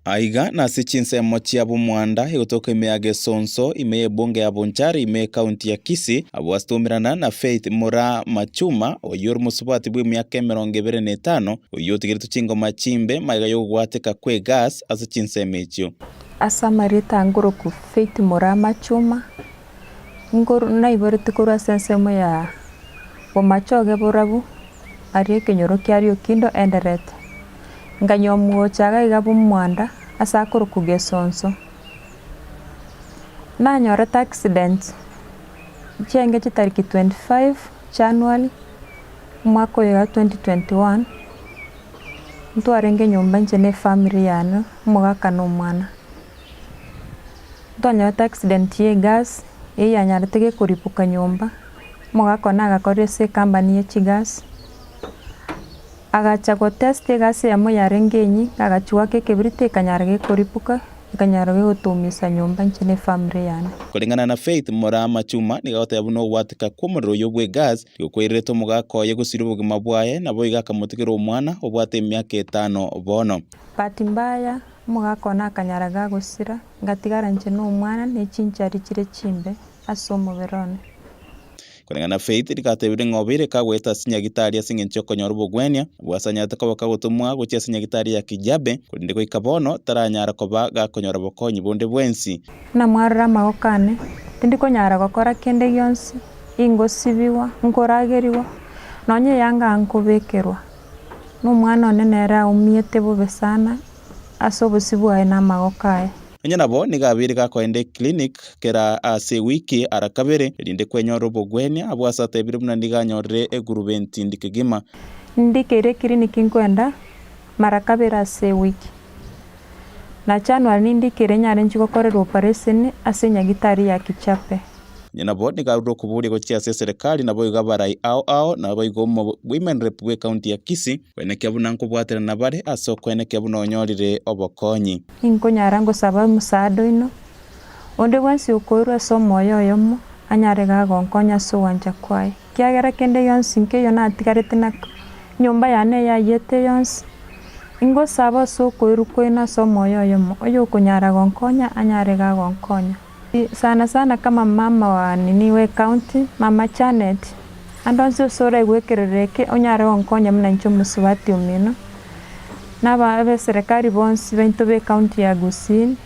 Aiga nase chinsemo chia Bumwanda egotoka ime ya Gesonso, ime ya ebunge ya Bonchari, ime ya ekaunti ya Kisii, abwo asitomerana na Faith Mura Machuma, oyio ore mosubati bw'emiaka emerongo ebere na etano, oyio otigeretwe chingoma chimbe magega y'ogobwateka kw'egas ase chinsemo echio. Ase amarieta angoroku Faith Mura Machuma, Nkoru- naiboretie korwa ase ensemo ya bomache oge borabu, aria ekenyoro kiaria okindo enderete. Nkanywa omogocha iga iga bw'omwanda ase akorokwa Gesonso. Nanyorete accident chi'engeki tariki twenty five January, omwaka oyo wa twenty twenty one, ntwarenge nyomba inche na efamiri yane, omogaka na omwana. Ntwanyorete accident ya egas eyio yanyarete gekoripuka nyomba, omogaka one agakorera ase ecompany ye chigas, agacha gotesta egasi eyemo yarenge enyia, agachia goaka ekebiriti ekanyara gekoripuka, ekanyara gegotoumisa nyomba inche na efamily yane. Koreng'ana na Faith Murama Chuma, nigo agoteba buna ogwatika kw'omorero oyio bw'egas tigokwaireretie omogaka oye gosiria obogima bwaye, naboigo akamotigera omwana obwate emiaka etano bono. Bahati mbaya, Omogaka one akanyara gagosira, ngatigara inche nomwana ne chinchari chire chimbe ase omobere one. Koreng'ana na Faith, rigatebirwe ring'obe ere kagoeta ase nyagitari ase engencho y'okonyora obogwenia obwo asanyarete koba kagotomwa gochia ase nyagitari ya Kijabe, korende goika bono taranyara koba gakonyora bokonyi bonde bwensi. Buna mwarora amaboko ane, tindi konyara gokora kende gionsi, ingosibigwa, nkoragerigwa, nonya eyanga nkobekerwa. Na omwana one nere aumete bobe sana ase obosio bwaye na amagoko aye. Onye nabo nigo abeire gakoenda eclinic kera ase ewiki ara kabere erinde kwenyore obogwenia, abwo ase atebire buna nigo anyorire egurubenti ndi kegima. Ndi keire eclinic nkoenda mara kabere ase ewiki. Na January nendiko eria inyarenchwe gokorerwa opereseni ase enyagitari ya Kichape. Inche nabo nigarure okobooria gochia ase eserekari naboigo abarai ao ao naboigo omo women rep bw'ecounty ya Kisii. Kwene kia buna nkobwatera nabare ase okwene kia buna onyorire obokonyi. Inkonyara ngosaba omosaada oino. Onde bwensi okoirwa ase omoyo oyomo anyare iga agonkonya ase ogwancha kwaye. Ekiagera kende gionsi nkeiyo natigarete na enyomba yane eyayete yonsi, ingosaba ase okoirwa kwaino ase omoyo oyomo, oyokonyara gonkonya anyare iga gonkonya. Sana sana kama mama wa nini we county, mama Janet, ande onsi ase oraigwe ekerero eke onyare gonkonya buna inche omosubati omino, na abeserekari bonsi baito be county ya Gusii.